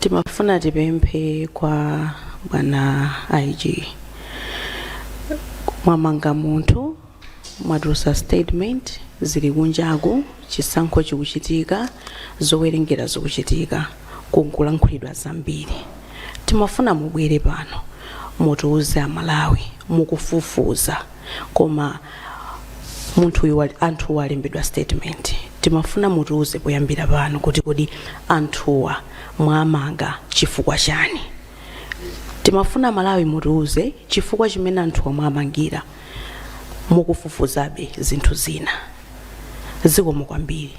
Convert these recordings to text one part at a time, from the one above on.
timafuna tipemphe kwa bwana ig mwamanga munthu mwatulutsa statement zili kunjaku chisankho chikuchitika zowerengera zikuchitika kukulankhulidwa zambiri timafuna mubwere pano mutiuze amalawi mukufufuza koma munthuyu anthuwa alembedwa statement timafuna mutiuze poyambira pano kuti kodi anthuwa mwamanga chifukwa chani timafuna malawi mutiuze chifukwa chimene anthuwa mwamangira mukufufuzabe zinthu zina zikomo kwambiri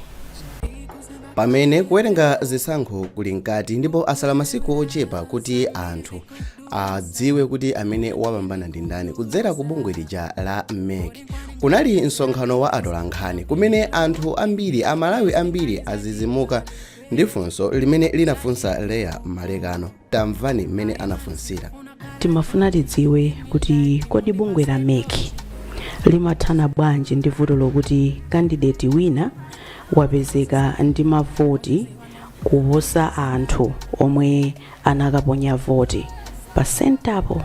pamene kuwerenga zisankho kuli mkati ndipo asala masiku ochepa kuti anthu adziwe kuti amene wapambana ndi ndani kudzera ku bungwe lija la mec kunali msonkhano wa atolankhani kumene anthu ambiri amalawi ambiri adzidzimuka ndi funso limene linafunsa leah malekano tamvani mmene anafunsira timafuna tidziwe kuti kodi bungwe la mec limathana bwanji ndi vuto lokuti kandideti wina wapezeka ndi mavoti kuposa anthu omwe anakaponya voti pa sentapo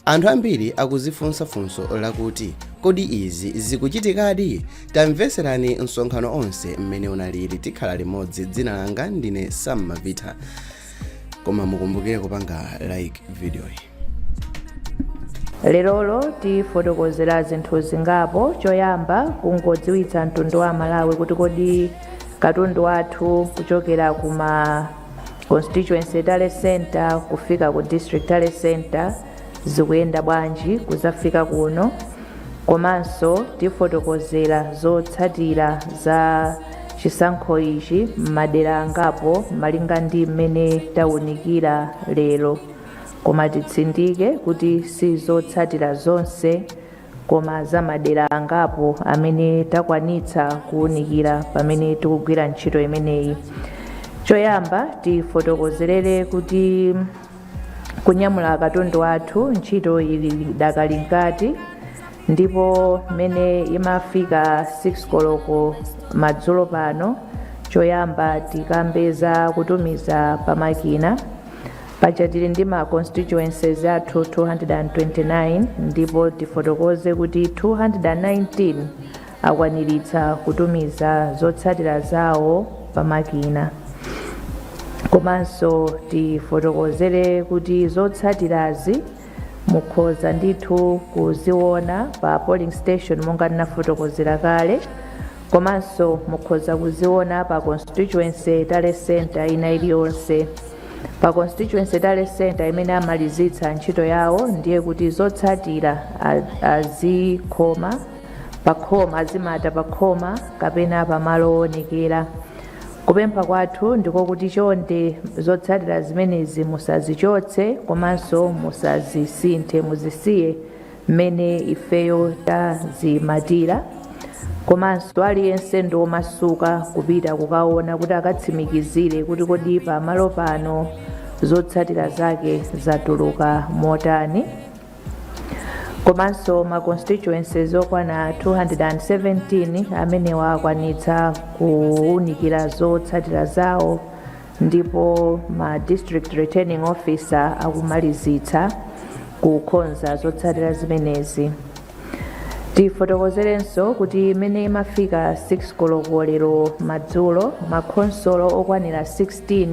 anthu ambiri akudzifunsa funso lakuti kodi izi zikuchitikadi tamveserani msonkhano onse mmene unalili tikhala limodzi dzina langa ndine sam mavita koma mukumbukire kupanga like videoyi lerolo tifotokozera zinthu zingapo choyamba kungodziwitsa mtundu wa malawi kuti kodi katundu wathu kuchokera kuma constituency tally center kufika ku district tally center zikuyenda bwanji kudzafika kuno komanso tifotokozera zotsatira za chisankho ichi m'madera angapo malinga ndi mmene tawunikira lero koma titsindike kuti si zotsatira zonse koma za madera angapo amene takwanitsa kuwunikira pamene tikugwira ntchito imeneyi choyamba tifotokozerere kuti kunyamula katundu wathu ntchito ili dakali mkati ndipo mmene imafika 6 koloko madzulo pano choyamba tikambe za kutumiza pamakina paja tili ndi ma constituencies athu 229 ndipo tifotokoze kuti 219 akwaniritsa kutumiza zotsatira zawo pamakina komanso tifotokozere kuti zotsatirazi mukhoza ndithu kuziona pa polling station monga ndinafotokozera kale komanso mukhoza kuziona pa constituency tally center ina iliyonse pa constituency tally center imene amalizitsa ntchito yawo ndiye kuti zotsatira a- azikhoma pakhoma azimata pakhoma kapena pamalo owonekera kupempha kwathu ndiko kuti chonde zotsatira zimenezi musazichotse komanso musazisinthe muzisiye mmene ifeyo tazimatira komanso aliyense ndi omasuka kupita kukaona kuti akatsimikizire kuti kodi pamalo pano zotsatira zake zatuluka motani komanso ma constituencies okwana 217 amenewa akwanitsa kuwunikira zotsatira zawo ndipo ma district returning officer akumalizitsa kukonza zotsatira zimenezi tifotokozerenso kuti mmene imafika 6 koloko lero madzulo makhonsolo okwanira 16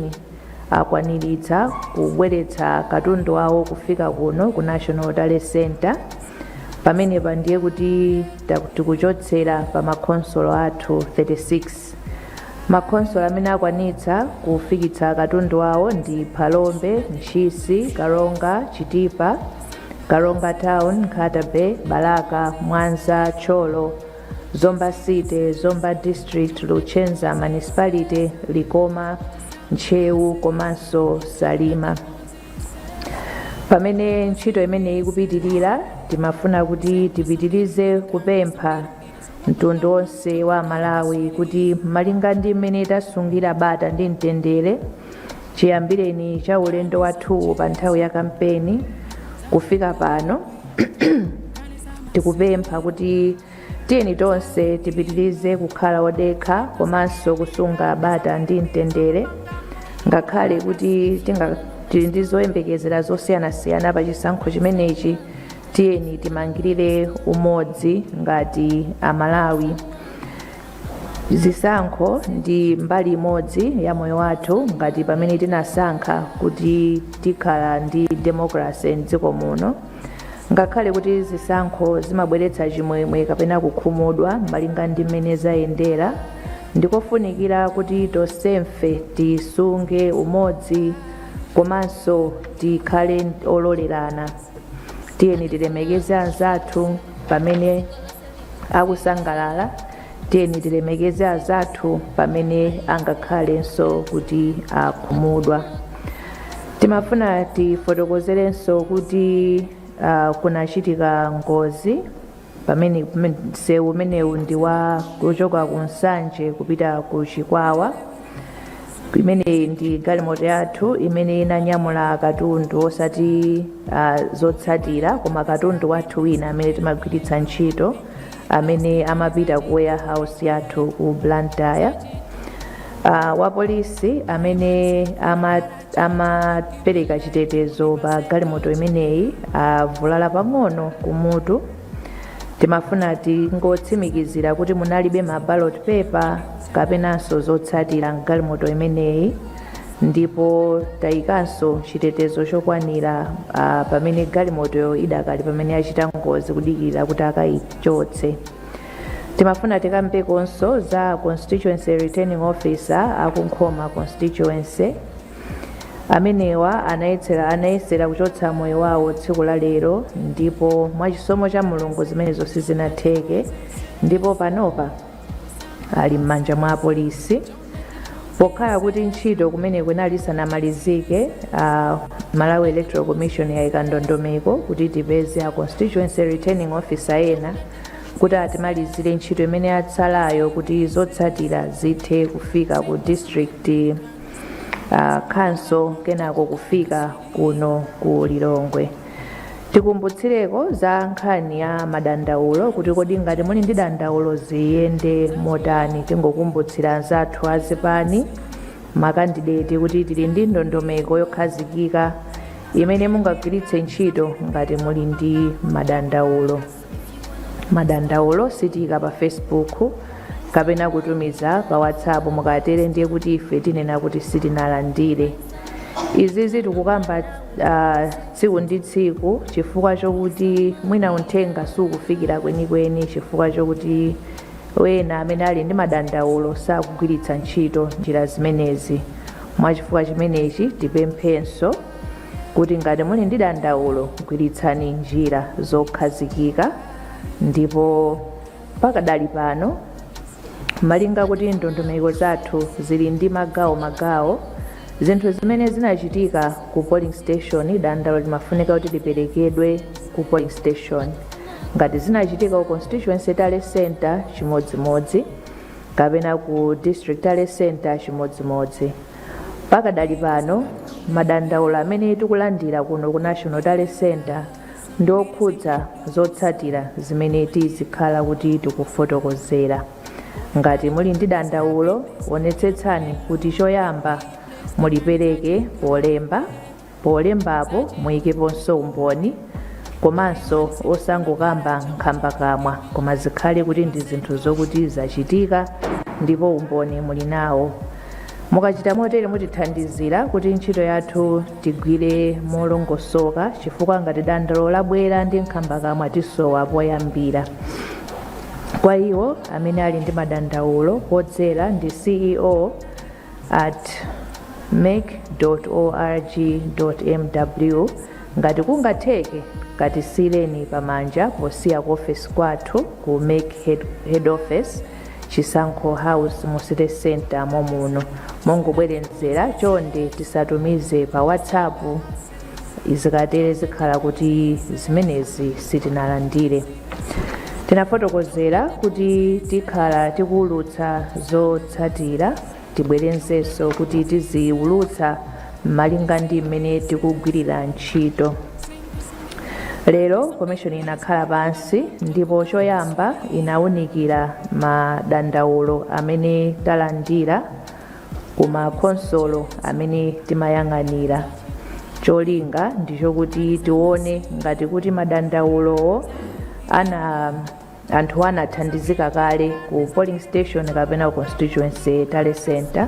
akwaniritsa kubweretsa katundu wawo kufika kuno ku national tally center pamenepa ndiye kuti ta- tikuchotsera pa makhonsolo athu 36 Makhonsolo amene akwanitsa kufikitsa katundu wawo ndi Phalombe, Ntchisi, Karonga, Chitipa, Karonga Town, Nkhata Bay, Balaka, Mwanza, Thyolo, Zomba City, Zomba District, Luchenza Municipality, Likoma, Ntcheu komanso Salima. Pamene ntchito imeneyi ikupitirira, timafuna kuti tipitirize kupempha mtundu onse wa amalawi kuti malinga ndi mmene tasungira bata ndi mtendere chiyambireni cha ulendo wathuwu pa nthawi ya kampeni kufika pano tikupempha kuti tiyeni tonse tipitirize kukhala odekha komanso kusunga bata ndi mtendere ngakhale kuti tinga tili ndi zoyembekezera zosiyanasiyana pa chisankho chimenechi tiyeni timangirire umodzi ngati amalawi zisankho ndi mbali imodzi ya moyo wathu ngati pamene tinasankha kuti tikhala ndi demokrasi mdziko muno ngakhale kuti zisankho zimabweretsa chimwemwe kapena kukhumudwa malinga ndi mmene zayendera ndikofunikira kuti tonsefe tisunge umodzi komanso tikhale ololerana tiyeni tilemekeze anzathu pamene akusangalala tiyeni tilemekeze anzathu pamene angakhalenso kuti akhumudwa timafuna tifotokozerenso kuti uh, kunachitika ngozi pa msewu umenewu ndi wa kuchoka ku nsanje kupita ku chikwawa imeneyi ndi galimoto yathu imene inanyamula katundu osati uh, zotsatira koma katundu wathu wina amene timagwiritsa ntchito amene amapita ku warehouse yathu ku blantyre uh, wapolisi amene ama amapereka chitetezo pa galimoto imeneyi avulala pang'ono kumutu timafuna tingotsimikizira kuti munalibe ma ballot paper kapenanso zotsatira mgalimoto imeneyi ndipo tayikanso chitetezo chokwanira ah, pamene galimotoyo idakali pamene yachita ngozi kudikirira kuti akayichotse timafuna tikambekonso za constituency returning officer akunkhoma constituency amenewa anayesera kuchotsa moyo wawo tsiku la lero ndipo mwachisomo cha mulungu zimenezo sizinatheke ndipo panopa ali m'manja mwa apolisi pokhala kuti ntchito kumeneko inali isanamalizike uh, malawi electoral commission yayika ndondomeko kuti tipeze a constituency returning officer ena kuti atimalizire ntchito imene yatsalayo kuti zotsatira zithe kufika ku district uh, council kenako kufika kuno ku lilongwe tikumbutsireko za nkhani ya madandaulo kuti kodi ngati muli ndi dandaulo ziyende motani tingokumbutsira anzathu azipani makandideti kuti tili ndi ndondomeko yokhazikika imene mungagwiritse ntchito ngati muli ndi madandaulo madandaulo sitiika pa facebook kapena kutumiza pa whatsapp mukatere ndiye kuti ife tinena kuti sitinalandire izizi tikukamba uh, tsiku ndi tsiku chifukwa chokuti mwina unthenga sukufikira kwenikweni chifukwa chokuti wena amene ali ndi madandaulo sakugwiritsa ntchito njira zimenezi mwachifukwa chimenechi tipemphenso kuti ngati muli ndi dandaulo gwiritsani njira zokhazikika ndipo pakadali pano malinga kuti ndondomeko zathu zili ndi magawo magawo zinthu zimene zinachitika ku polling station dandaulo limafunika kuti liperekedwe ku polling station ngati zinachitika ku constituency tally center chimodzimodzi kapena ku district tally center chimodzimodzi Pakadali pano, madandaulo amene tikulandira kuno ku National Tally Centre ndi okhudza zotsatira zimene tizikhala kuti tikufotokozera. Ngati muli ndi dandaulo, onetsetsani kuti choyamba mulipereke polemba Polembapo muyikeponso umboni komanso osangokamba nkhambakamwa koma zikhale kuti ndi zinthu zokuti zachitika ndipo umboni muli nawo. Mukachita motere mutithandizira kuti ntchito yathu tigwire molongosoka chifukwa ngati dandaulo labwera ndi nkhambakamwa tisowa poyambira. Kwa iwo amene ali ndi madandaulo odzera ndi CEO at mec.org.mw ngati kungatheke katisiyireni pamanja posiya ku ofesi kwathu ku mec head office chisankho house mu city center momuno mongobwerenzera chonde tisatumize pa whatsapp zikatere zikhala kuti zimenezi sitinalandire tinafotokozera kuti tikhala tikuwulutsa zotsatira tibwerenzenso kuti tiziwulutsa malinga ndi mmene tikugwirira ntchito lero komishoni inakhala pansi ndipo choyamba inawunikira madandaulo amene talandira ku makhonsolo amene timayang'anira cholinga ndi chokuti tione ngati kuti madandaulowo anthu anathandizika kale ku polling station kapena constituency tally center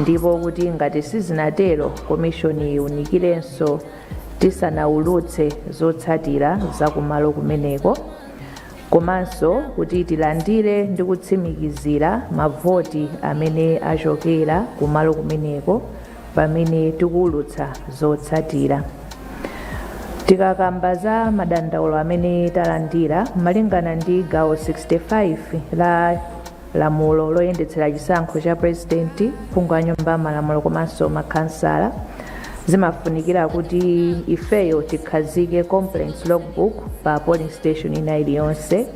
ndipo kuti ngati sizinatero komishoni iunikirenso tisanaulutse zotsatira za kumalo kumeneko komanso kuti tilandire ndi kutsimikizira mavoti amene achokera kumalo kumeneko pamene tikuwulutsa zotsatira. Tikakamba za madandaulo amene talandira malingana ndi gawo 65 la lamulo loyendetsera chisankho cha purezidenti phungu wa nyumba ya malamulo komanso makhansala zimafunikira kuti ifeyo tikhazike complaints logbook pa polling station ina iliyonse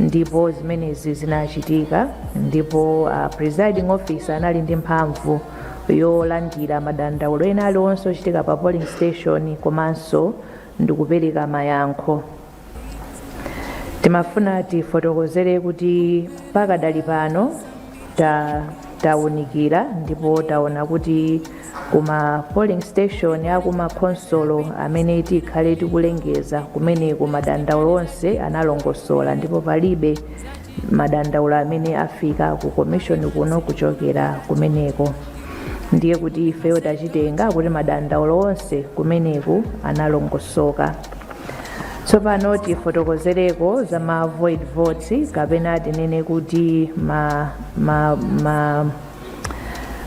ndipo zimenezi zinachitika ndipo a presiding officer anali ndi mphamvu yolandira madandaulo ena aliwonse ochitika pa polling station komanso ndikupereka mayankho timafuna tifotokozere kuti pakadali pano tawunikira ndipo taona kuti kuma polling station akuma khonsolo amene tikhale tikulengeza kumeneku madandaulo onse analongosola ndipo palibe madandaulo amene afika ku komishoni kuno kuchokera kumeneko ndiye kuti ifeyo tachitenga kuti madandaulo onse kumeneku analongosoka tsopano tifotokozereko za ma void votes kapena tinene kuti ma, ma, ma,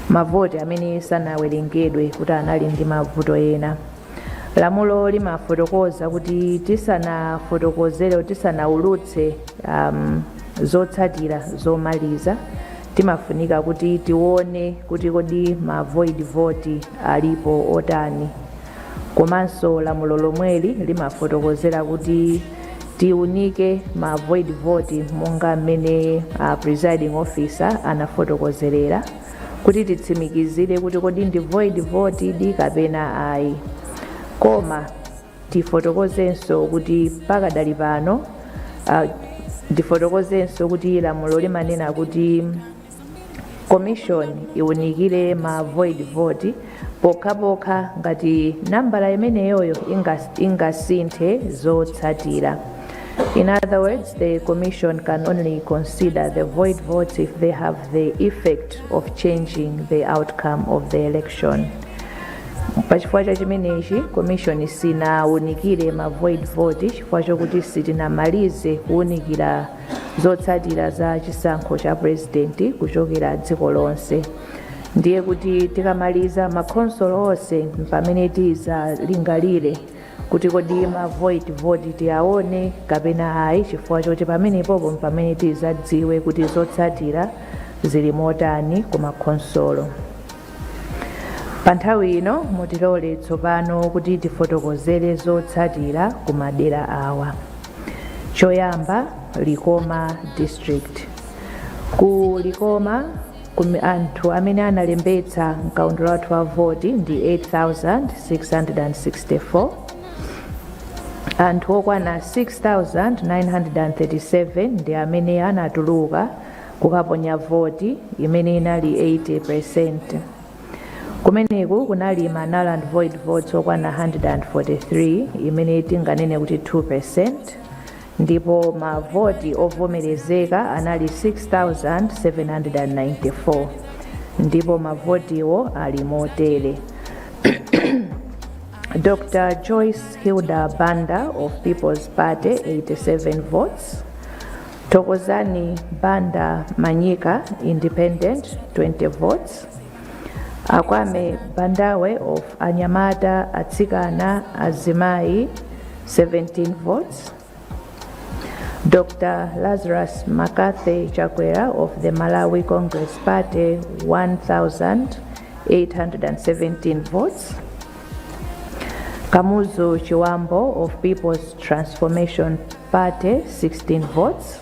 mavoti amene sanawerengedwe kuti anali ndi mavuto ena lamulo limafotokoza kuti tisanafotokozere tisanaulutse um, zotsatira zomaliza timafunika kuti tione kuti kodi ma void vote alipo otani komanso lamulo lomweli limafotokozera kuti tiunike ma void vote monga mmene a presiding officer anafotokozerera kuti titsimikizire kuti kodi ndi void vote di kapena ayi koma tifotokozenso kuti pakadali pano ndifotokozenso kuti lamulo limanena kuti commission iwunikire ma void vote pokhapokha ngati nambala imeneyoyo ingas- ingasinthe zotsatira in other words the commission can only consider the void votes if they have the effect of changing the outcome of the election pachifukwa cha chimenechi komishoni sinaunikire ma void vote chifukwa chokuti sitinamalize kuunikira zotsatira za chisankho cha purezidenti kuchokera dziko lonse ndiye kuti tikamaliza makhonsolo onse mpamene tizalingalire kuti kodi ma void vote tiyaone kapena ayi chifukwa choti pamenepopo mpamene tizadziwe kuti zotsatira zili motani ku makhonsolo pa nthawi ino mutilole tsopano kuti tifotokozere zotsatira ku madera awa choyamba likoma district ku likoma Likoma anthu amene analembetsa mkaundula wathu wa voti ndi 8,664. Anthu okwana 6,937 ndi amene anatuluka kukaponya voti imene inali 80%. Kumeneku kunali ma null and void votes okwana 143 imene tinganene kuti 2%. ndipo mavoti ovomerezeka anali 6794 ndipo mavotiwo ali motere dr joyce hilda banda of people's party 87 votes thokozani banda manyika independent 20 votes Akwame Bandawe of Anyamata Atsikana Azimayi 17 votes. Dr. Lazarus Makathe Chakwera of the Malawi Congress Party 1,817 votes. Kamuzu Chiwambo of People's Transformation Party 16 votes.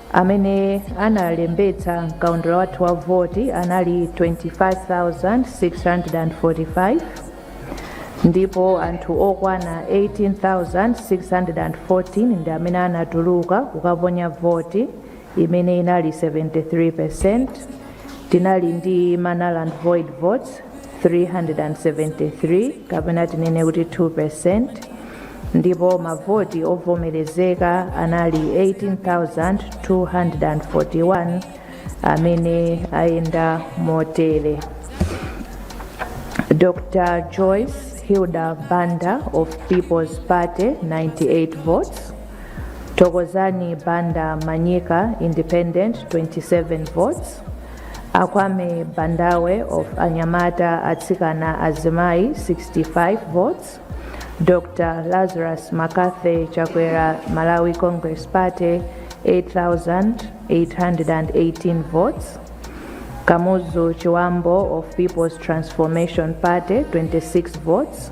amene analembetsa mkaundula wathu wa voti anali 25,645 ndipo anthu okwana 18,614 ndi amene anatuluka kukaponya voti imene inali 73 percent tinali ndi ma null and void votes 373 kapena tinene kuti 2 percent ndipo mavoti ovomerezeka anali 18241 amene ayenda motere dr joyce hilda banda of people's party 98 votes Thokozani Banda Manyika Independent 27 votes Akwame Bandawe of Anyamata Atsikana Azimai 65 votes Dr. Lazarus Makathe Chakwera Malawi Congress Party 8,818 votes Kamuzu Chiwambo of People's Transformation Party 26 votes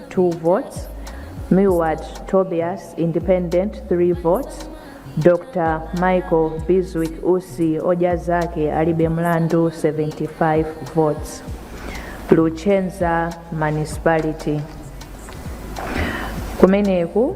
2 votes, Milward Tobias Independent 3 votes, Dr. Michael Biswick Usi oja zake alibe mlandu 75 votes. Luchenza Municipality kumeneku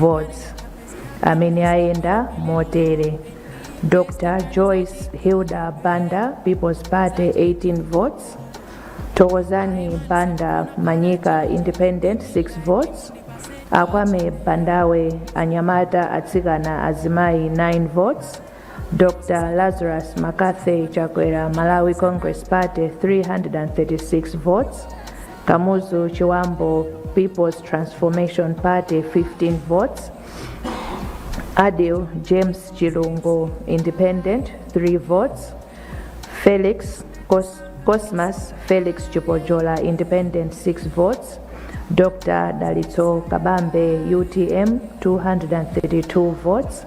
votes amene ayenda motere dr joyce hilda banda people's party 18 votes thokozani banda manyika independent 6 votes akwame bandawe anyamata atsikana azimayi 9 votes Dr. Lazarus Makathe Chakwera Malawi Congress Party 336 votes. Kamuzu Chiwambo People's Transformation Party 15 votes. Adil James Chilungo Independent 3 votes. Felix Cos- Cosmas Felix Chipojola Independent 6 votes. Dr. Dalitso Kabambe UTM 232 votes.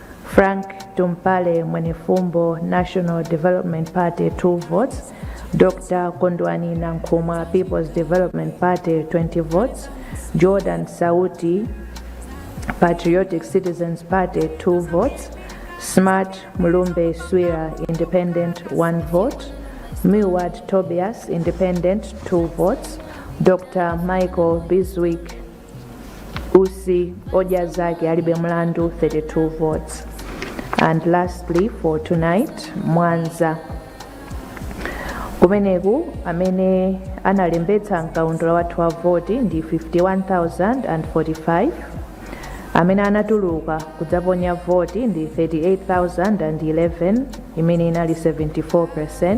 Frank Tumpale Mwenefumbo National Development Party 2 votes, Dr. Kondwani Nankhumwa People's Development Party 20 votes, Jordan Sauti Patriotic Citizens Party 2 votes, Smart Mulumbe Swira Independent 1 vote, Milward Tobias Independent 2 votes, Dr. Michael Biswick Usi Odya Zake Alibe Mlandu 32 votes. And lastly for tonight, Mwanza. Kumeneku amene analembetsa mkaundula wathu wa voti ndi 51,045 amene anatuluka kudzaponya voti ndi 38,011 imene inali 74%.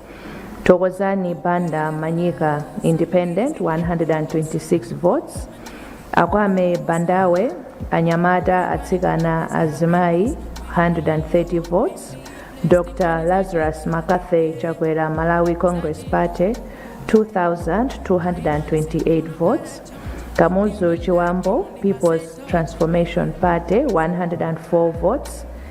Thokozani Banda Manyika, Independent, 126 votes. Akwame Bandawe, Anyamata Atsikana Azimai, 130 votes. Dr. Lazarus Makathe Chakwera Malawi Congress Party, 2,228 votes. Kamuzu Chiwambo, People's Transformation Party, 104 votes.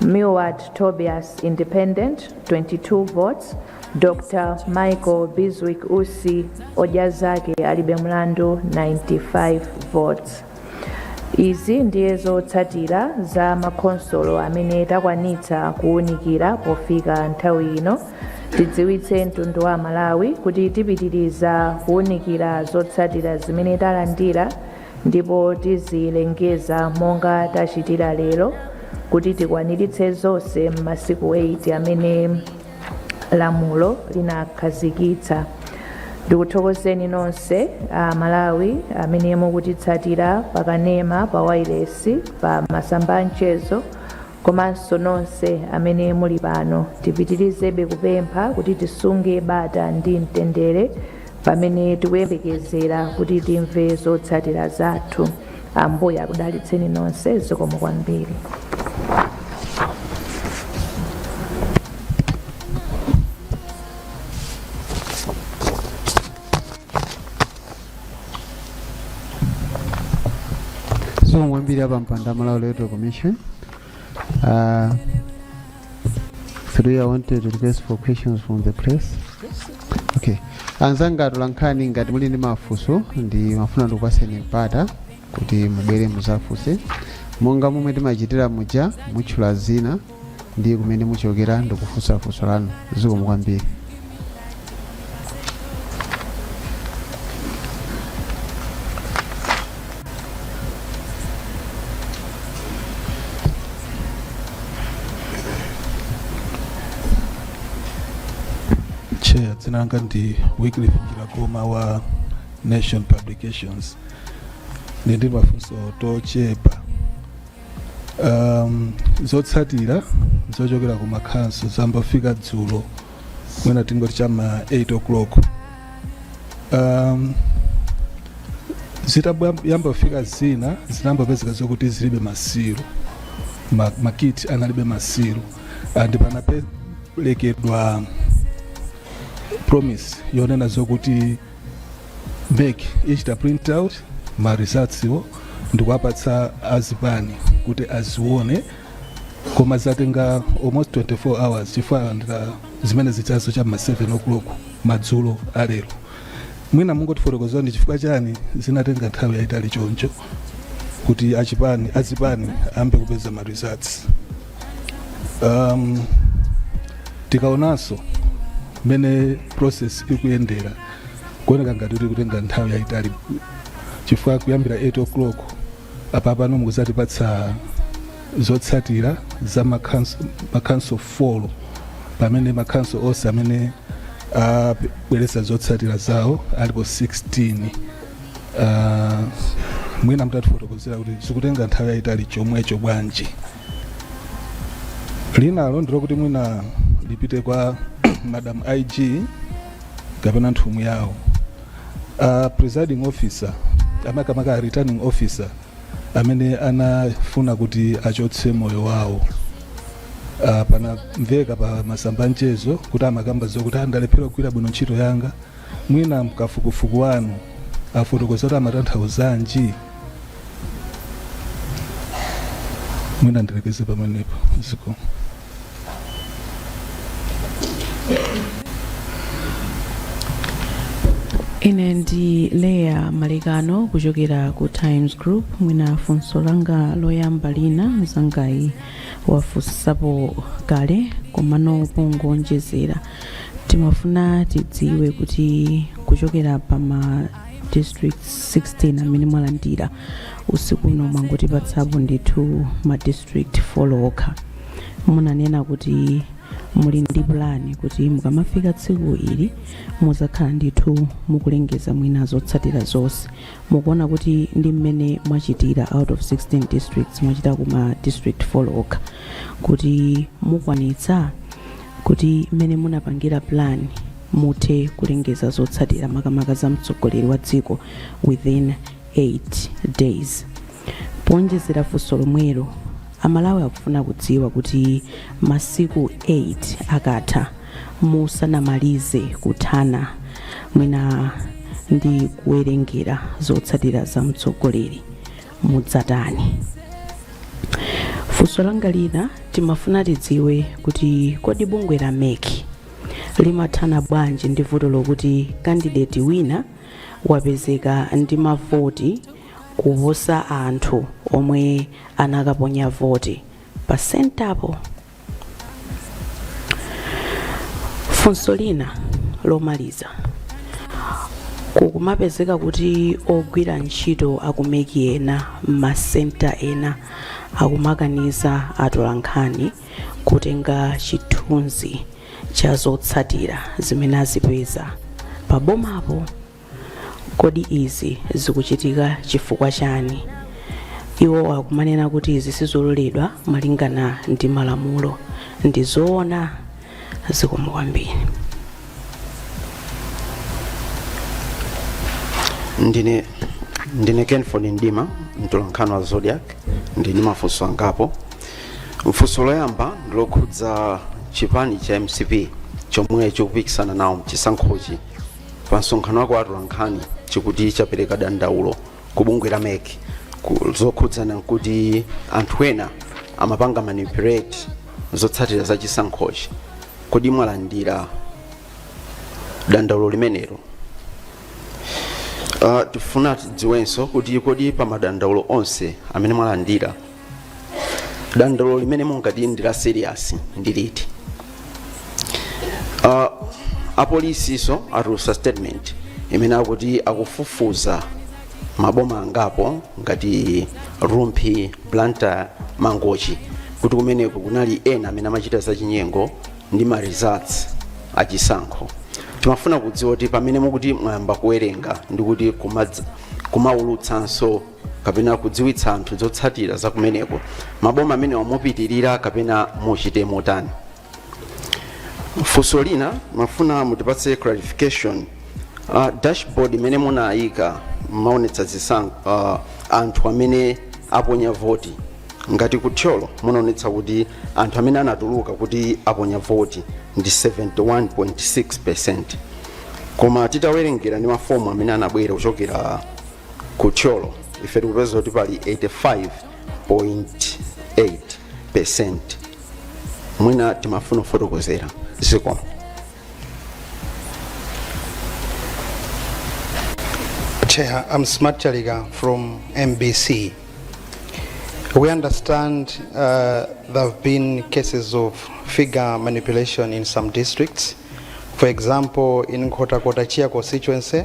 Milward Tobias Independent 22 votes Dr Michael Bizwick Usi odya zake alibe mlandu 95 votes izi ndiye zotsatira za makhonsolo amene takwanitsa kuwunikira pofika nthawi ino tidziwitse mtundu wa malawi kuti tipitiriza kuwunikira zotsatira zimene talandira ndipo tizilengeza monga tachitira lero kuti tikwaniritse zonse m'masiku 8 amene lamulo linakhazikitsa ndikuthokozeni nonse a malawi amene mukutitsatira pakanema pa wailesi pa masamba a mchezo komanso nonse amene muli pano tipitirizebe kupempha kuti tisunge bata ndi mtendere pamene tikuyembekezera kuti timve zotsatira zathu ambuye akudalitseni nonse zikomo kwambiri zikomo kwambiri apampando a malawi electoral commission uh, three i wanted to request for questions from the press okay anzanga atolankhani ngati muli ndi mafunso ndimafuna ndikupaseni mpata kuti mubwere muzafunse monga momwe timachitira muja mutchula dzina ndi kumene muchokera ndikufunsa funso lanu zikomo kwambiri chair dzina langa ndi wycliffe njiragoma wa nation publications ndili ndi mafunso tochepa um, zotsatira zochokera ku makhanso zayamba kufika dzulo mwina tingoti chama 8 o'clock um, zitayamba kufika zina zinayamba kupezeka zokuti zilibe ma seal ma- ma kit analibe ma seal and panaperekedwa promise yonena zokuti mec ichita print out ma resultswo ndikuwapatsa azipani kuti azione koma zatenga almost 24 hours chifukwa alandira zimene zijazo cha ma 7 o'clock madzulo alero mwina mungotifotokozera ndi chifukwa chani zinatenga nthawi yayitali choncho kuti achipani azipani ayambe kupeza ma results um, tikaonanso mmene process ikuyendera kuoneka ngati ikutenga nthawi yayitali chifukwa kuyambira 8 o'clock mpaka pano mukutipatsa zotsatira za makhanso makhanso 4 pamene makhanso onse amene abweretsa zotsatira zawo alipo 16 uh, mwina mutatifotokozera kuti zikutenga nthawi yayitali chomwecho bwanji linalo ndi lokuti mwina lipite kwa madam ig kapena nthumwi yawo a presiding officer amakamaka a returning officer amene anafuna kuti achotse moyo wawo uh, panamveka pa masamba a mchezo kuti amakamba zokuti andalephera kugwira bwino ntchito yanga mwina mkafukufuku wanu afotokoza kuti amatanthauzanji mwina ndilekeze pamenepo zikomo ine ndi leah malekano kuchokera ku times group mwina funso langa loyamba lina mzangayi wafunsapo kale komano pongowonjezera timafuna tidziwe kuti kuchokera pa ma district 16 amene mwalandira usiku uno mwangotipatsapo ndithu ma district folo okha munanena kuti muli ndi plan kuti mukamafika tsiku ili muzakhala ndithu mukulengeza mwina zotsatira zonse mukuona kuti ndi mmene mwachitira out of 16 districts mwachita kuma district folo okha kuti mukwanitsa kuti mmene munapangira plan muthe kulengeza zotsatira makamaka za mtsogoleri wa dziko within 8 days powonjezera funso lomwelo amalawi akufuna kudziwa kuti masiku 8 akatha musanamalize kuthana mwina ndi kuwerengera zotsatira za mtsogoleri mudzatani funso langa lina timafuna tidziwe kuti kodi bungwe la meki limathana bwanji ndi vuto lokuti kandideti wina wapezeka ndi mavoti kuposa anthu omwe anakaponya voti pa sentapo funso lina lomaliza kukumapezeka kuti ogwira ntchito akumeki ena m'masenta ena akumakaniza atolankhani kutenga chithunzi cha zotsatira zimene azipeza pa bomapo kodi izi zikuchitika chifukwa chani iwo akumanena kuti izi sizololedwa malingana ndi malamulo ndi zoona zikomo kwambiri ndine cassim ford mdima mtolankhani wa zodiak ndili ndi mafunso angapo mfunso loyamba ndilokhudza chipani cha mcp chomwe chikupikisana nawo mchisankhochi pa msonkhano wa atolankhani chikuti chapereka dandaulo ku bungwe la mec ku- zokhudzana nkuti anthu ena amapanga manipulate zotsatira za chisankhochi kodi mwalandira dandaulo limenelo Uh, tifuna tidziwenso kuti kodi pa madandaulo onse amene mwalandira dandaulo limene mungati ndi la serious ndi liti uh, apolisiso atulutsa statement imene akuti akufufuza maboma angapo ngati rumphi blantyre mangochi kuti kumeneko kunali ena amene amachita zachinyengo ndi ma results achisankho timafuna kudziwa kuti pamene mukuti mwayamba kuwerenga ndikuti kumaulutsanso kapena kudziwitsa anthu zotsatira za kumeneko maboma amenewa mupitirira kapena muchite motani funso lina timafuna mutipatse clarification uh, dashboard imene munayika mmaonetsa zisankho uh, anthu amene aponya voti ngati ku thyolo munaonetsa kuti anthu amene anatuluka kuti aponya voti ndi 71.6 percent koma titawerengera ndi mafomu amene anabwera kuchokera ku thyolo ife tikupeza kuti pali 85.8 percent mwina timafuna kufotokozera zikomo Chair, I'm Smart Chalika from MBC. We understand uh, there have been cases of figure manipulation in some districts. For example, in Nkhotakota Chia constituency,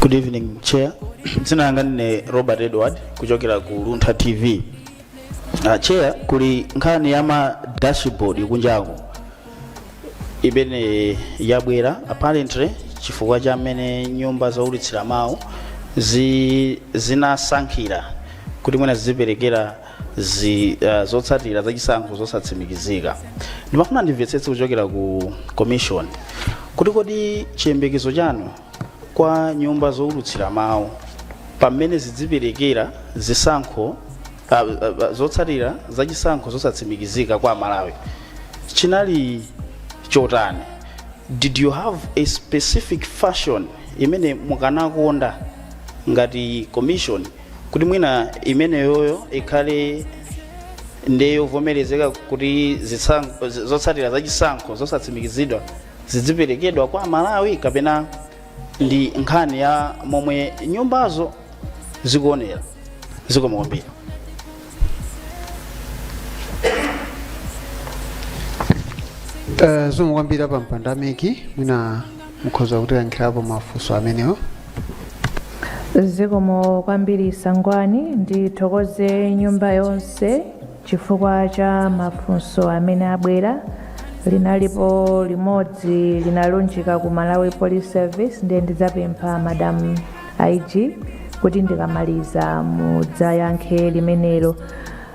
Good evening, Chair. Dzina langa ndine Robert Edward kuchokera ku Luntha TV. Uh, Chair, kuli nkhani ya ma dashboard kunjaku imene yabwera apparently chifukwa cha mmene nyumba zoulutsira mawu zi, zinasankhira kuti mwina ziziperekera zi, uh, zotsatira za chisankho zosatsimikizika ndimafuna ndimvetsetse kuchokera ku commission kuti kodi chiyembekezo chanu kwa nyumba zoulutsira mawu pamene zidziperekera zisankho uh, uh, zotsatira za chisankho zosatsimikizika kwa amalawi chinali chotani did you have a specific fashion imene mukanakonda ngati commission kuti mwina imeneyoyo ikhale ndi yovomerezeka kuti zisankho- z- zotsatira za chisankho zosatsimikizidwa zidziperekedwa kwa amalawi kapena ndi nkhani ya momwe nyumbazo zikuonera zikomo kwambiri Eh, zikomo kwambiri apa mpandameki mwina mukhoza kutiyankhirapo mafunso amenewo zikomo kwambiri sangwani ndithokoze nyumba yonse chifukwa cha mafunso amene abwera linalipo limodzi linalunjika ku malawi police service ndiye ndidzapempha madam ig kuti ndikamaliza mudzayankhe limenelo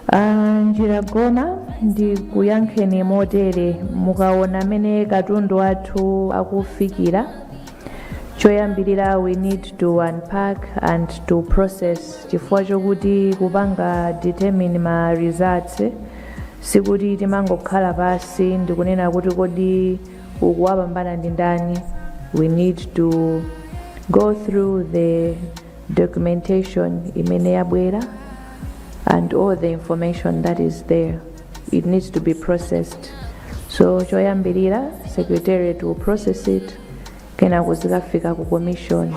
Ah, njiragoma ndikuyankheni motere mukaona mmene katundu wathu akufikira choyambirira we need to unpack and to process chifukwa chokuti kupanga determine ma results sikuti timangokhala pansi ndikunena kuti kodi uku wapambana ndi ndani we need to go through the documentation imene yabwera and all the information that is there it needs to be processed so choyambirira secretariat will process it kenako zikafika ku commission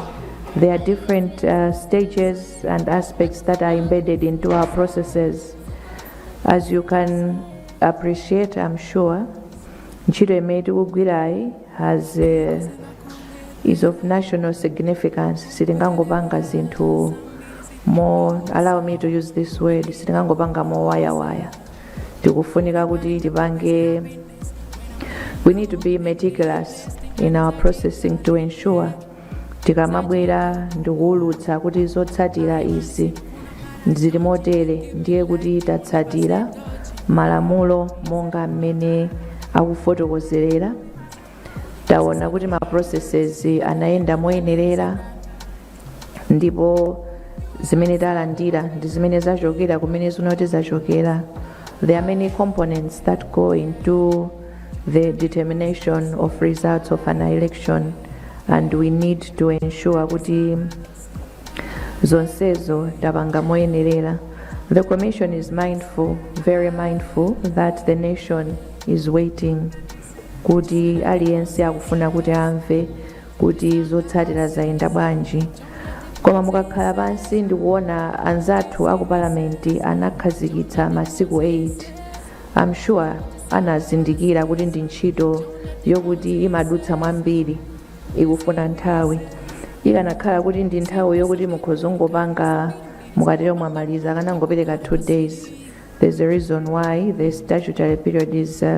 there are different uh, stages and aspects that are embedded into our processes as you can appreciate i'm sure ntchito imene tikugwirayi has uh, is of national significance sitingangopanga zinthu mo- allow me to use this word sitingangopanga mowayawaya tikufunika kuti tipange we need to be meticulous in our processing to ensure tikamabwera ndikuwulutsa kuti zotsatira izi zili motere ndiye kuti tatsatira malamulo monga mmene akufotokozerera taona kuti ma processes anayenda moyenerera ndipo zimene talandira ndi zimene zachokera kumene zinoti zachokera There are many components that go into the determination of results of an election and we need to ensure kuti zonsezo tapanga moyenerera. The commission is mindful, very mindful that the nation is waiting kuti aliyense akufuna kuti amve kuti zotsatira zayenda bwanji koma mukakhala pansi ndikuona anzathu aku palamenti anakhazikitsa masiku 8 i'm sure anazindikira kuti ndi ntchito yokuti imadutsa mwambiri ikufuna nthawi ikanakhala kuti ndi nthawi yokuti mukhoza kungopanga mukatero mwamaliza akanangopereka 2 days there's a reason why the statutory period is uh,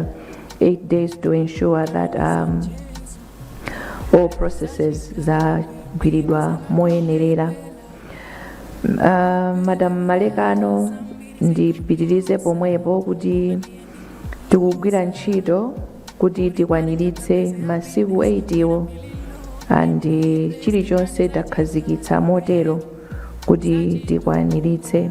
8 days to ensure that um, all processes zagwiridwa moyenerera uh, madam malekano ndipitirize pomwepo kuti tikugwira ntchito kuti tikwaniritse masiku 8 wo and chilichonse takhazikitsa motero kuti tikwaniritse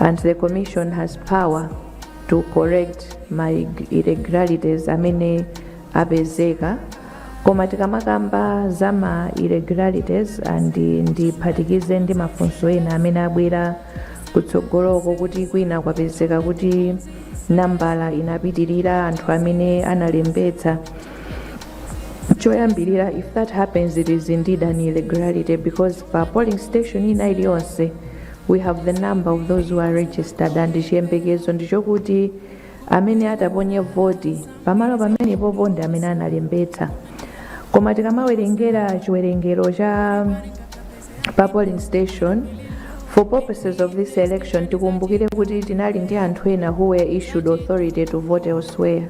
and the commission has power to correct ma irregularities amene apezeka koma tikamakamba za ma irregularities and ndiphatikize ndi mafunso ena amene abwera kutsogoloko kuti kwina kwapezeka kuti nambala inapitirira anthu amene analembetsa choyambirira if that happens it is indeed an irregularity because pa polling station ina iliyonse we have the number of those who are registered and chiyembekezo ndichokuti amene ataponye voti pamalo pamenepopo ndi amene analembetsa koma tikamawerengera chiwerengero cha pa polling station for purposes of this election tikumbukire kuti tinali ndi anthu ena who were issued authority to vote elsewhere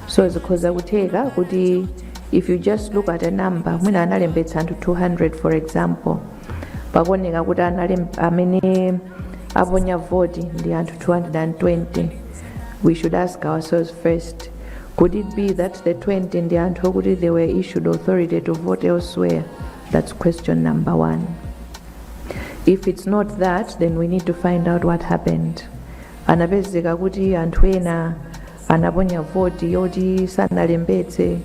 so zikhoza kutheka kuti if you just look at a number mwina analembetsa anthu 200 for example pakuoneka kuti analem- amene aponya voti ndi anthu 220 we should ask ourselves first could it be that the 20 ndi anthu okuti they were issued authority to vote elsewhere that's question number one if it's not that then we need to find out what happened anapezeka kuti anthu ena anaponya voti yoti sanalembetse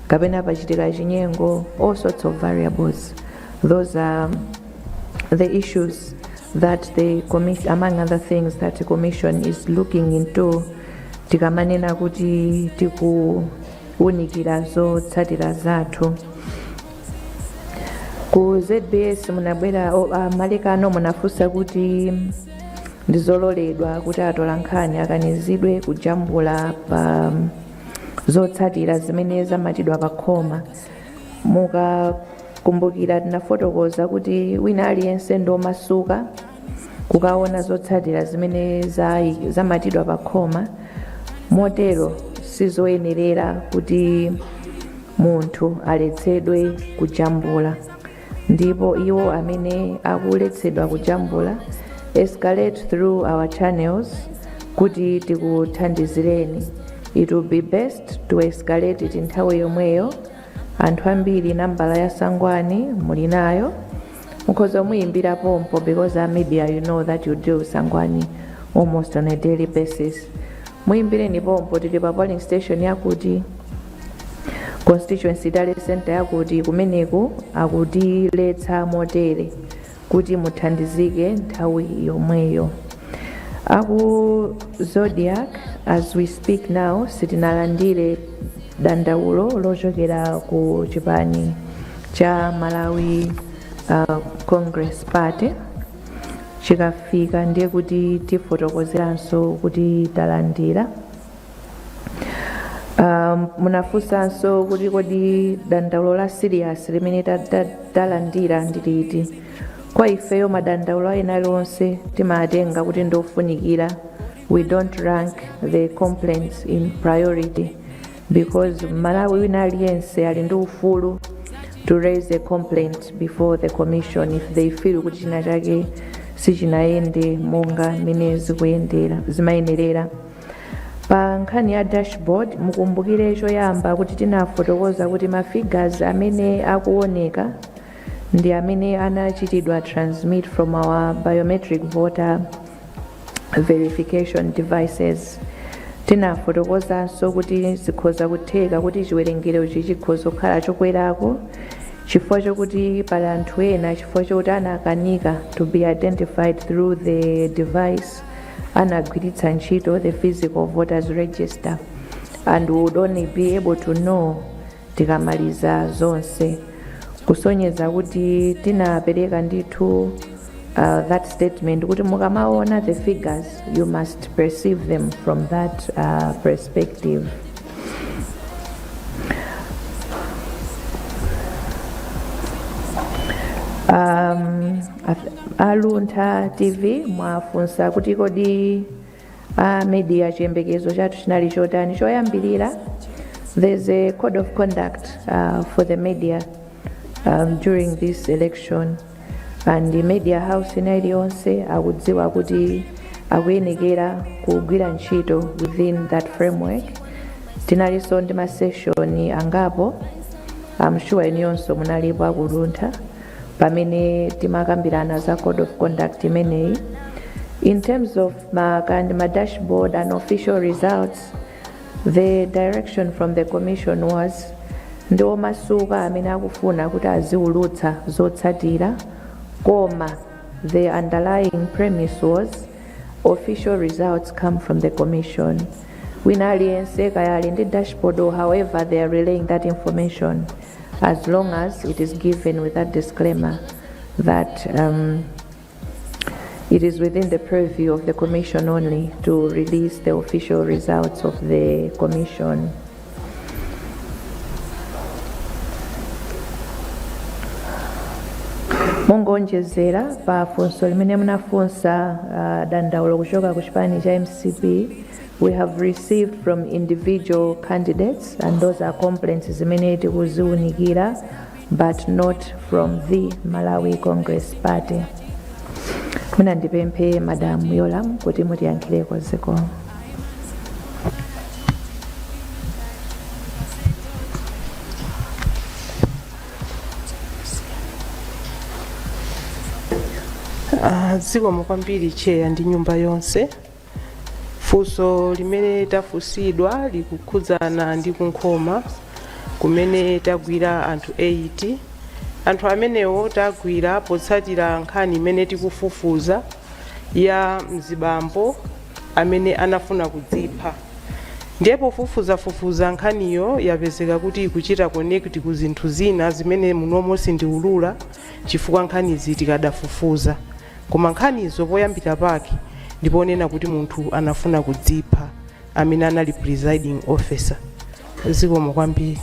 kapena pachitika chinyengo all sorts of variables those are the issues that the commission among other things that the commission is looking into tikamanena kuti tikuwunikira zotsatira zathu ku zbs munabwera o- a malekano munafunsa kuti ndizololedwa kuti atolankhani akanizidwe kujambula pa zotsatira zimene zamatidwa pa khoma mukakumbukira tinafotokoza kuti wina aliyense ndi omasuka kukaona zotsatira zimene zayi- zamatidwa pa khoma motero sizoyenerera kuti munthu aletsedwe kujambula ndipo iwo amene akuletsedwa kujambula escalate through our channels kuti tikuthandizireni it will be best to escalate it nthawi yomweyo anthu ambiri nambala ya sangwani muli nayo mukhoza kumuyimbira pompo because as media you know that you deal with sangwani almost on a daily basis muyimbireni pompo tili pa polling station yakuti constituency tally center yakuti kumeneku akutiletsa motere kuti muthandizike nthawi yomweyo aku zodiak as we speak now sitinalandire dandaulo lochokera ku chipani cha malawi uh, congress party chikafika ndiye kuti tifotokozeranso kuti talandira um, munafunsanso kuti kodi dandaulo la serious limene ta- ta- talandira ndi liti kwa ifeyo madandaulo ena onse timatenga kuti ndiofunikira we don't rank the complaints in priority because mmalawi wina aliyense ali ndi ufulu to raise a complaint before the commission if they feel kuti china chake sichinayende monga mmene zimayenerera pa nkhani ya dashboard mukumbukire choyamba kuti tinafotokoza kuti ma figures amene akuoneka ndi amene anachitidwa transmit from our biometric voter verification devices tinafotokozanso kuti zikhoza kutheka kuti chiwerengero ichi chikhoza kukhala chokwerako chifukwa chokuti pali anthu ena chifukwa chokuti anakanika to be identified through the device anagwiritsa ntchito the physical voters register and would only be able to know tikamaliza zonse kusonyeza kuti tinapereka ndithu uh, that statement kuti mukamaona the figures you must perceive them from that uh, perspective um, ath- a Luntha tv mwafunsa kuti kodi a media chiyembekezo chathu chinali chotani choyambirira there's a code of conduct uh, for the media um, during this election and the media house ina iliyonse akudziwa kuti akuyenekera kugwira ntchito within that framework tinalinso ndi maseshoni angapo I'm sure inuyonso munalipo aku Luntha pamene timakambirana za code of conduct imeneyi in terms of ma, kind ma dashboard and official results the direction from the commission was ndi omasuka amene akufuna kuti aziulutsa zotsatira koma the underlying premise was official results come from the commission wina aliyense kaya ali ndi dashboard or however they are relaying that information as long as it is given with that disclaimer that um, it is within the purview of the Commission only to release the official results of the Commission. mongoonjezera pa funso limene munafunsa uh, dandaulo kuchoka ku chipani cha mcp we have received from individual candidates and those are complaints zimene tikuziunikira but not from the malawi congress party mwina ndipemphe madamu yolam kuti mutiyankhireko zikomo Ah, zikomo kwambiri cheya ndi nyumba yonse funso limene tafunsidwa likukhudzana ndi ku Nkhoma kumene tagwira anthu 8 anthu amenewo tagwira potsatira nkhani imene tikufufuza ya mzibambo amene anafuna kudzipha ndiye pofufuzafufuza nkhaniyo yapezeka kuti ikuchita connect ku zinthu zina zimene munomo sindiulula chifukwa nkhanizi tikadafufuza Koma nkhanizo poyambira pake ndi ponena kuti munthu anafuna kudzipha amene anali presiding officer. Zikomo kwambiri.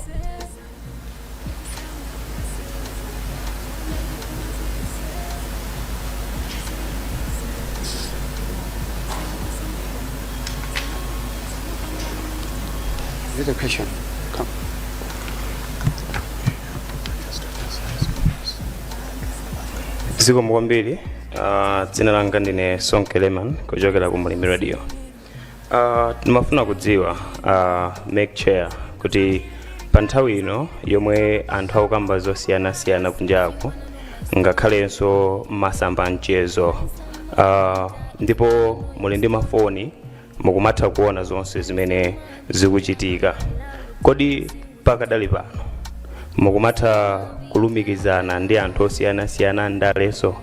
Is it a question? Come. zikomo kwambiri uh, dzina langa ndine sonke leman kuchokera ku Mlimi radio uh, timafuna kudziwa uh, MEC chair kuti pa nthawi ino yomwe anthu akukamba zosiyanasiyana kunjako ngakhalenso masamba a mchezo uh, ndipo muli ndi mafoni mukumatha kuona zonse zimene zikuchitika kodi pakadali pano mukumatha kulumikizana ndi anthu osiyanasiyana andalenso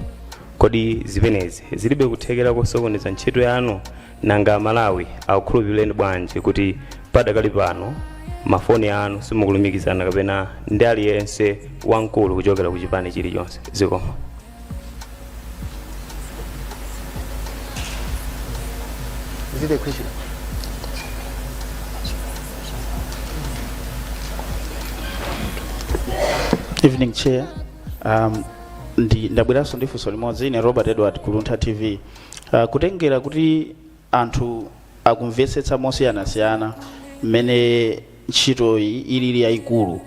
kodi zimenezi zilibe kuthekera kosokoneza ntchito yanu nanga amalawi akukhulupirireni bwanji kuti padakali pano mafoni anu simukulumikizana kapena ndi aliyense wamkulu kuchokera ku chipani chilichonse zikomo Is it a question? evening chair um, ndi ndabweranso ndi funso limodzi ine robert edward ku Luntha tv uh, kutengera kuti Anthu akumvetsetsa mosiyanasiyana mmene ntchitoyi ilili yaikulu.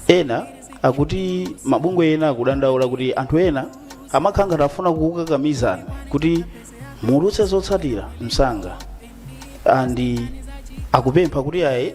Ena akuti mabungwe ena akudandaula kuti anthu ena amakhala ngati afuna kukukakamizani kuti muulutse zotsatira msanga and akupempha kuti ayi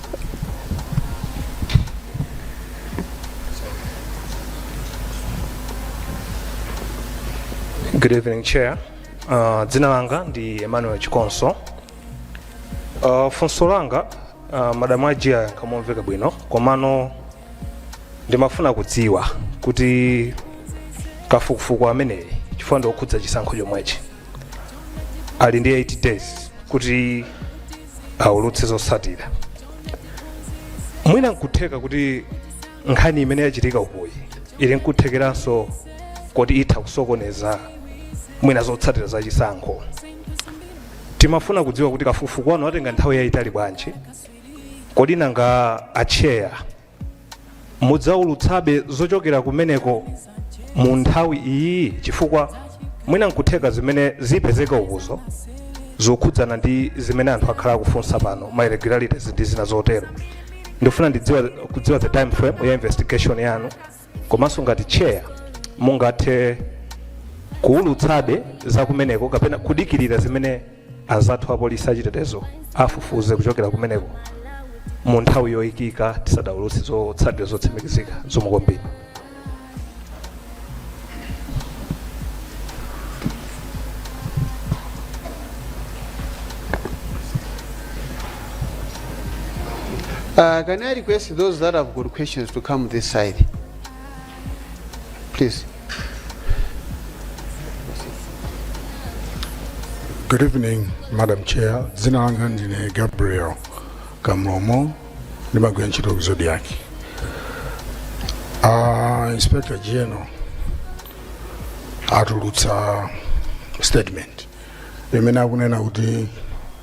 Good evening, Chair. Uh, dzina langa ndi Emmanuel Chikonso. Uh, funso langa uh, madamu IG ayankha momveka bwino komano ndimafuna kudziwa kuti kafukufuku ameneyi chifukwa ndiokhudza chisankho chomwechi ali ndi 8 days kuti aulutse zotsatira mwina nkutheka kuti nkhani imene yachitika ukoyi ili nkuthekeranso kuti itha kusokoneza mwina zotsatira za chisankho timafuna kudziwa kuti kafukufuku wanu watenga nthawi yayitali bwanji kodi nanga acheya mudzaulutsabe zochokera kumeneko mu nthawi iyi chifukwa mwina nkutheka zimene zipezeke ukozo zokhudzana ndi zimene anthu akhala akufunsa pano ma irregularities ndi zina zotero ndifuna ndi kudziwa the time frame ya investigation yanu komanso ngati chair mungathe kuwulutsabe za kumeneko kapena kudikirira zimene anzathu apolisi achitetezo afufuze kuchokera kumeneko mu nthawi yoyikika tisadawulutse zotsatira zotsimikizika zikomo kwambiri Uh, can I request those that have got questions to come this side? Please. Good evening, Madam Chair. Dzina langa ndine Gabriel Kamlomo, ndimagwira ntchito ku Zodiak. Uh, Inspector General atulutsa statement imene akunena kuti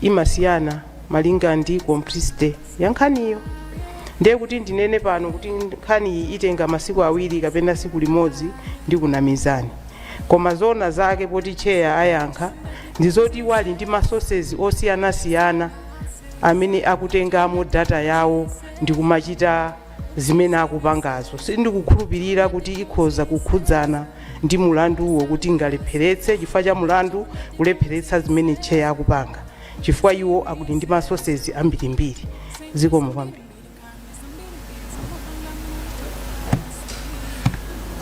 imasiyana malinga ndi complexity ya nkhaniyo ndiye kuti ndinene pano kuti nkhaniyi itenga masiku awiri kapena siku limodzi ndikunamizani koma zoona zake poti chair ayankha ndi zoti iwo ali ndi masources osiyanasiyana amene akutengamo data yawo ndi kumachita zimene akupangazo sindikukhulupirira kuti ikhoza kukhudzana ndi mulanduwo kuti ingalepheretse chifukwa cha mulandu kulepheretsa zimene chair akupanga chifukwa iwo akuti ndi masources ambirimbiri zikomo kwambiri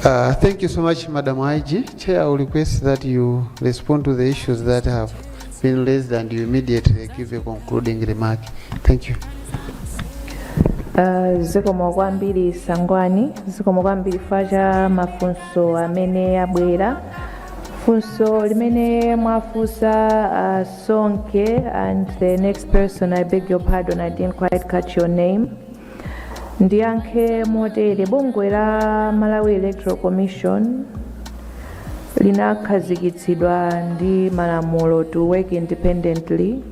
Uh, thank you so much, Madam IG. Chair, I will request that you respond to the issues that have been raised and you immediately give a concluding remark. Thank you. Uh, zikomo kwambiri Sangwani zikomo kwambiri chifukwa cha mafunso amene abwera funso limene mwafunsa uh, sonke and the next person i beg your pardon i didn't quite catch your name ndiyankhe motere bungwe la malawi electoral commission linakhazikitsidwa ndi malamulo to work independently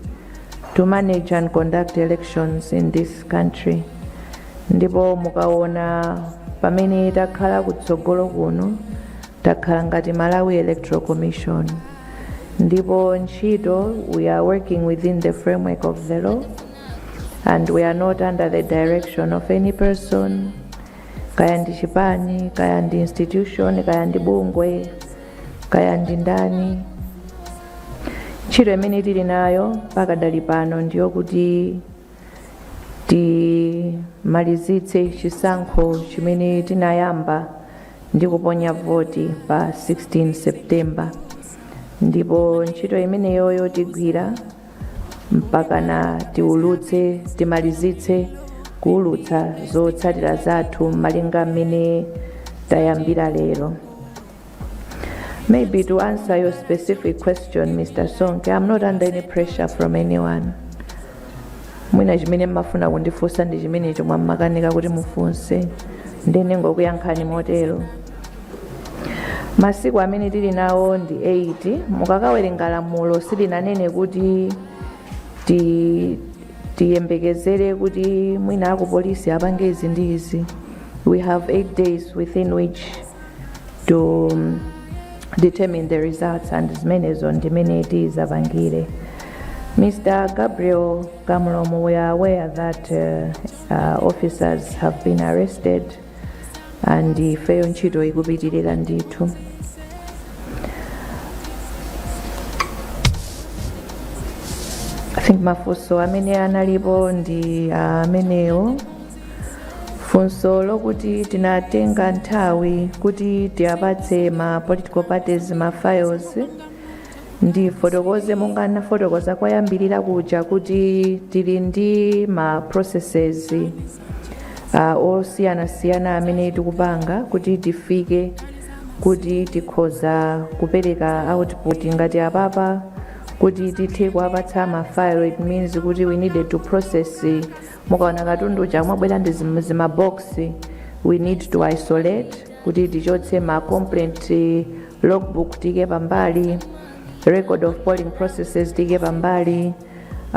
to manage and conduct elections in this country ndipo mukaona pamene takhala kutsogolo kuno takhala ngati malawi electoral commission ndipo ntchito we are working within the framework of the law and we are not under the direction of any person kaya ndi chipani kaya ndi institution kaya ndi bungwe kaya ndi ndani ntchito imene tili nayo pakadali pano ndiyo kuti timalizitse chisankho chimene tinayamba ndi kuponya voti pa 16 september ndipo ntchito imeneyoyo tigwira mpakana tiulutse timalizitse kuulutsa zotsatira zathu malinga mmene tayambira lero maybe to answer your specific question mr sonke i'm not under any pressure from anyone mwina chimene mmafuna kundifunsa ndi chimenecho mwina mmakanika kuti mufunse ndiye ndingokuyankhani motero masiku amene tili nawo ndi 8 mukakawerenga lamulo silinanene kuti ti tiyembekezere kuti mwina akupolisi apange izi ndi izi we have 8 days within which to um, determine the results and zimenezo ndi mmene tizapangire Mr. Gabriel Kamlomo, we are aware that uh, uh, officers have been arrested and ifeyo ntchito ikupitirira ndithu I think mafunso amene analipo ndi amenewo funso lokuti tinatenga nthawi kuti tiwapatse ma political parties ma files ndifotokoze monga nafotokoza koyambirira kuja kuti tili ndi ma processes processes osiyanasiyana amene tikupanga kuti tifike kuti tikhoza kupereka output ngati apapa kuti tithe kuwapatsa ma file it means kuti we needed to process mukaona katundu uja mwabwera ndi zim- zimabox we need to isolate kuti tichotse ma complaint eh, logbook tiike pambali record of polling processes tiike pambali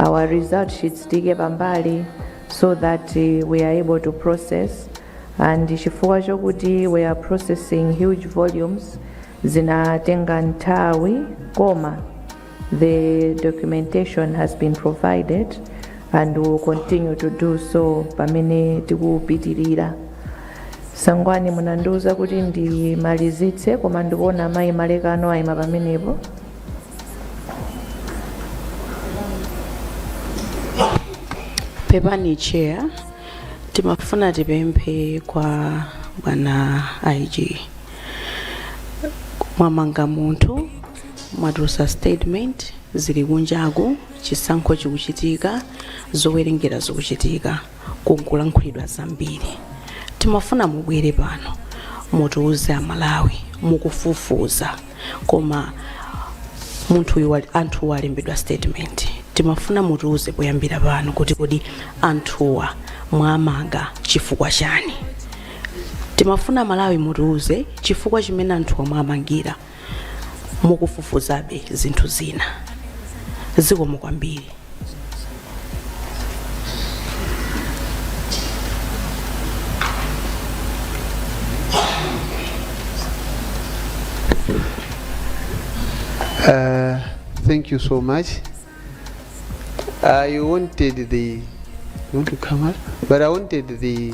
our result sheets tiike pambali so that uh, we are able to process and chifukwa chokuti we are processing huge volumes zinatenga nthawi koma the documentation has been provided and will continue to do so pamene tikupitirira sangwani munandiuza kuti ndimalizitse koma ndikuona mayi malekano ayima pamenepo pepani chair timafuna tipemphe kwa bwana ig mwamanga munthu mwatulutsa statement zili kunjaku chisankho chikuchitika zowerengera zikuchitika kunkulankhulidwa zambiri timafuna mubwere pano mutiuze amalawi mukufufuza koma munthu uyu wali- anthuwa alembedwa statement timafuna mutiuze poyambira pano kuti kodi anthuwa mwamanga chifukwa chani timafuna amalawi mutiuze chifukwa chimene anthuwa mwamangira mukufufuzabe zinthu zina zikomo kwambiri Uh, thank you so much. I wanted the. You want to come up? But I wanted the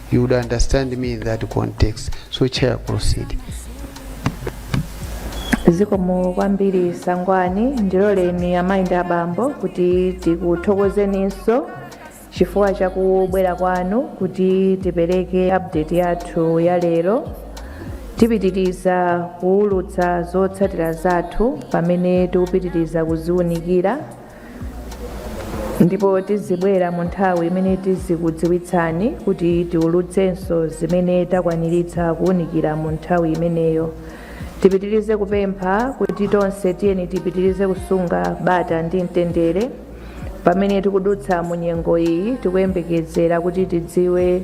you would understand me in that context so chair proceed zikomo kwambiri sangwani ndiloleni amayi ndi abambo kuti tikuthokozeninso chifukwa chakubwera kwanu kuti tipereke update yathu ya lero tipitiriza kuwulutsa zotsatira zathu pamene tikupitiriza kuziwunikira ndipo tizibwera mu nthawi imene tizikudziwitsani kuti tiulutsenso zimene takwaniritsa kuwunikira mu nthawi imeneyo tipitirize kupempha kuti tonse tiyeni tipitirize kusunga bata ndi mtendere pamene tikudutsa mu nyengo iyi tikuyembekezera kuti tidziwe